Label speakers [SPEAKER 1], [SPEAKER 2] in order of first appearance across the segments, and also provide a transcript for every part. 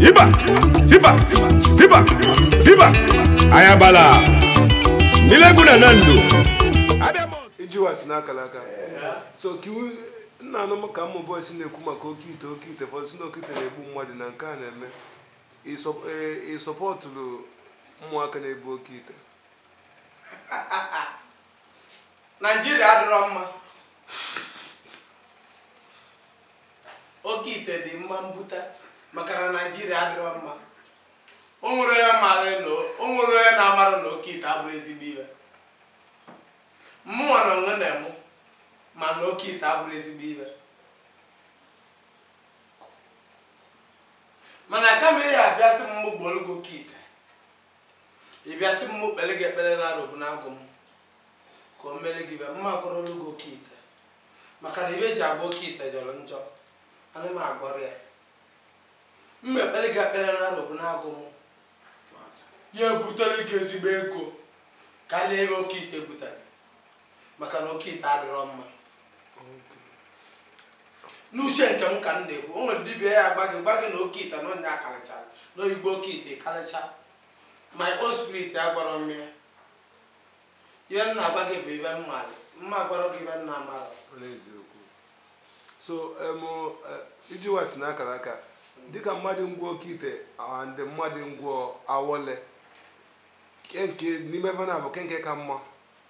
[SPEAKER 1] Iba, Siba, Siba, Siba, Ayabala, Nileguna Nando.
[SPEAKER 2] ijiwa si n'akara aka so ka iwu na anụ m ka ụmụ boys na-ekwu maka oke ite oke ite ụfọdụ sị na oke ite na-egbu mmadụ na nke a na-eme I support ụmụaka na-ebu oke ite
[SPEAKER 3] naijiria adịrọ mma oke ite dị mma mbuta maka na naijiria adịrọ mma o nwerọ onye na-amarọ na oke ite abụrọ ezigbo ihe mụnwa na onwe m ma na oke ite abụrọ ezigbo ihe mana kama ị ya abịa sị m mụ gwọọrọ gị oke ite ị bịa sị m mụ kpeere gị ekpere na arobunagụ m ka o meere gị ibe mma agwọrọ gị oke ite maka na ibe e ji agwọ oke ite jọrọ njọ ana m agwọrọ ya mma ekpere gị ekpere na arobunagụ m ya ebutere gị ezigbo ego karịa ebe oke ite butere maka na oke ite adịrọ mma n'uche nke m ka m na-ekwu o nwerọ dibia ya agwa gị gwa gị na oke ite na onye akarịchara na oyigbo oke ite ịkarịcha my own spirit agwarọ m ya ihe m na-agwa gị bụ ibe m maara mma agwarọ gị ibe m na-amarọ
[SPEAKER 2] so iji wa si n'akara aka dịka mmadụ ngwọ oke ite and mmadụ ngwọ awele ke nke n'ime ebe ahụ bụ ke nke ka mma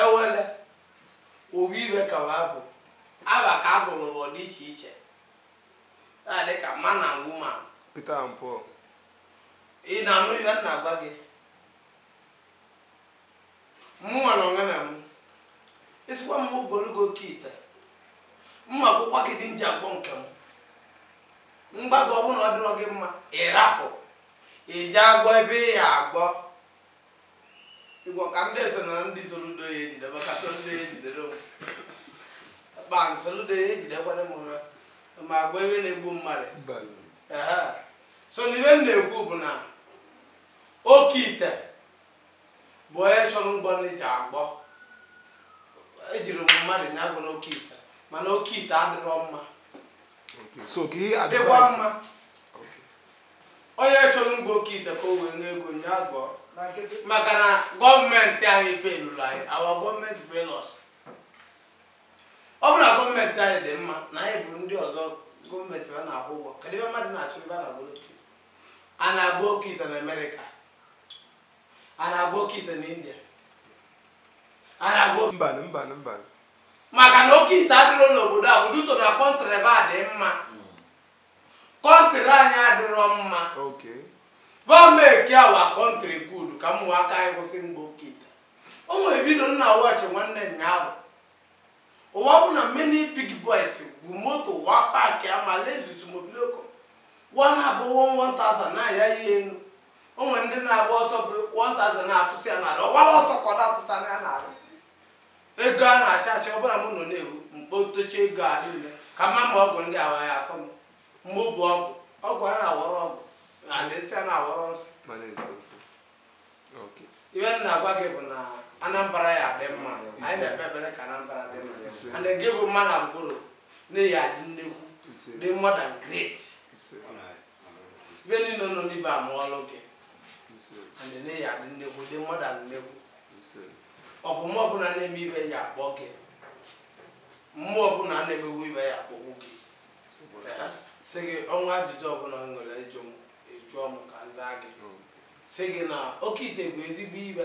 [SPEAKER 3] Awele ofu ibe ka wa bụ afa ka a gụrụ wa dị iche iche na-adị ka man and woman. Peter and Paul. Ị na-anụ ihe m na-agwa gị? Mụnwa na onwe m ị sịkwa m mụ gwọọrọ gị oke ite m agwakwa gị ụdị m ji agwọ nke m m gwa gị ọ bụrụ na ọ dịrọ gị mma ị rapụ i jee agwọ ebe ị ya agwọ Ị gwọ ka ndị so na ndị Soludo ya ejidebe ka Soludo ya ejidere onwe kpan Soludo ya ejidekwana m ụra ma agwọ ibe na-egbu mmadụ Ehe. so na ibe m na-ekwu bụ na oke ite bụ onye chọrọ ngwọ na i jee agwọ ejirọ m mmadụ ya agwọna oke ite mana oke ite adịrọ mma so
[SPEAKER 2] ka ihe dịkwa mma
[SPEAKER 3] onye chọrọ mgba oke ite ka o wee nwee ego ya-agwọ na nkịtị maka na gọọmenti anyị felụrụ anyị our gọọmenti fail us ọ bụrụ na gọọmenti anyị dị mma na anyị bụ ndị ọzọ gọọmenti ha na-akwụ ụgwọ kedu ebe mmadụ na-achọ ebe a na-agba oke ite a na-agba oke ite na amerịka a na-agba oke ite na india a na-agba oke mbanụ mbanụ mbanụ
[SPEAKER 2] maka
[SPEAKER 3] na oke ite adịrọ n'obodo ahụ due to na kọntrị be ha dị mma kọntrị anyị adịrọ mma Okay. gọọmenti make our kọntrị good ka ụmụaka anyị kwụsị mgba oke ite o nwere vidio m na-awọchị nwanne nyaahụ ụwa bụ na many big boys bu moto wa paakị ama Lexus mobiloko wa na-abụ 1000 na-aya ya elu o nwere ndị na-agba ọsọ bu 1000 na-atụsị ya n'ala ọ gbara ọsọ ka ọ na-atụsa na ya n'ala ego a na-achị achị ọ bụrụ na m nọ na-ewu m kpotochaa ego a niile ka m ma ma ọgwụ ndị awa ya-atọ m mụ bụ ọgwụ ọgwụ a na-awọrọ ọgwụ and nsị a na-awọrọ nsị mana eziokwu Okay. ibe m na-agwa gị bụ na anambra ya-adị mma anyị na-ekpe ekpere ka anambra dị mma Ise. and gị bụ Madam Ngoro na ị ya-adị nnekwu Ise. dị more than great Ise. ibe niile nọ n'ibe amụọlụ gị and na ị ya-adị nnekwu dị more than nnekwu ọbụma ọbụla na-eme ibe ya-akpọ gị mmụọ ọbụla na-emewu ibe ya-akpọgbu gị Ee, sị gị o nwee ajụjụ ọbụla ị nwere ịjụ m ị jụọ m ka m zaa gị sị gị na oke ite bụ ezigbo ibe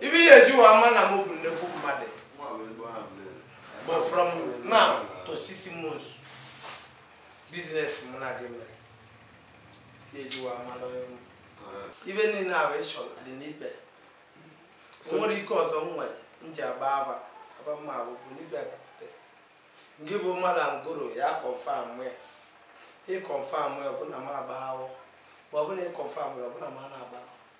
[SPEAKER 3] ibe e ya-eji wa ama na m bụ nnekwu mmadụ bụ from now to six months business mụ na gị mere e ji wa ama na onye ibe niile ahụ ị chọrọ dị n'ibe o nwere ike ọzọ m nwere m ji agba aba aba mma ahụ bụ n'ibe bute gị bụ Madam Ngoro ya-akọnfam ya ị kọnfam ya ọ bụ na m agba ahụ ma ọ bụ na ị kọnfam ya ọ bụ na m na-agba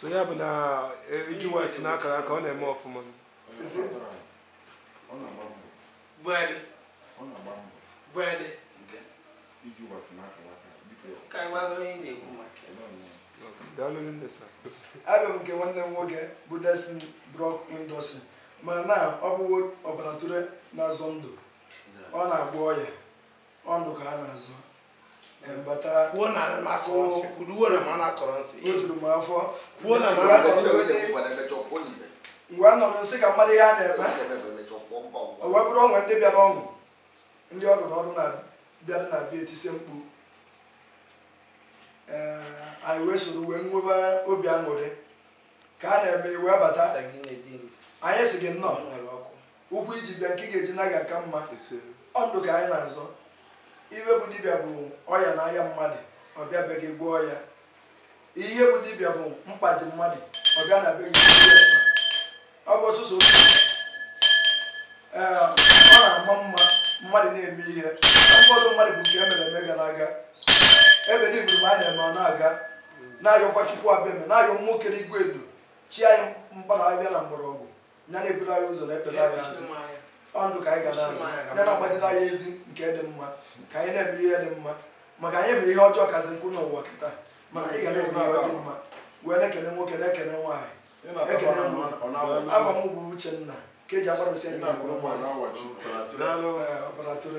[SPEAKER 2] so ya bụ na ije ụwa si n'akara aka ọ na-eme ọfụma
[SPEAKER 3] Bwede. Ona bambo. Bwede. Nke. Ije ụwa si n'akara aka. Ka iwa lo yin na ekwu
[SPEAKER 4] maka. Daalụ nne sa. Abịa m nke nwanne m nwoke bụ Destiny Block Industry mana na ọ bụwo ọbara atụrụ na-azọ ndụ ọ na-agwọ ọya ọ ndụ ka a na-azọ kwuo
[SPEAKER 3] na akụ uduwo na ma na-akọrọ nsị o juru m
[SPEAKER 4] afọ kwuo na ma na-akọrọ ngwa nọrọ nsị ka mmadụ ihe a na-eme o wee bụrụ o nwee ndị bịara ọnwụ ndị ọdụrụ ọdụ na-abịara na bịa etise mkpu anyị wee soro wee nwebe obi aṅụrị ka a na-eme ị wee bata anyị sị gị nnọọ ụkwụ i ji bịa nke ị ga-eji naa ga-aka mma ọ ndụ ka anyị na-azọ ihe bụ dibịa bụ ọya na-aya mmadụ ọ bịa be gị gwọọ ya ihe bụ dibịa bụ mkpa dị mmadụ ọ bịa na be gị ọ bụ ọsụsọ ee ọ na-ama mma mmadụ na-eme ihe ụfọdụ mmadụ bụ nke e mere eme gara aga ebe dị mgbe a na-eme ọ na-aga na-ayọkwa chukwu abịama na-ayọ nwoke n'igwe edo chi anyị mkpara abịa na mgbọrọgwụ ya na-eburu anyị ụzọ na-ekpere anyị azụ ọ ndụ ka anyị ga na-azọ ya na-agbaziri anyị ezi nke dị mma ka anyị na-eme ihe dị mma maka anyị eme ihe ọjọọ kazi ukwuu n'ụwa kịta mana anyị ga na-eme ihe dị mma wee na-ekene nwoke na-ekene nwaanyị ekene afa m bụ Uchenna ka e ji agbarụsi ndị ọbara tụrụ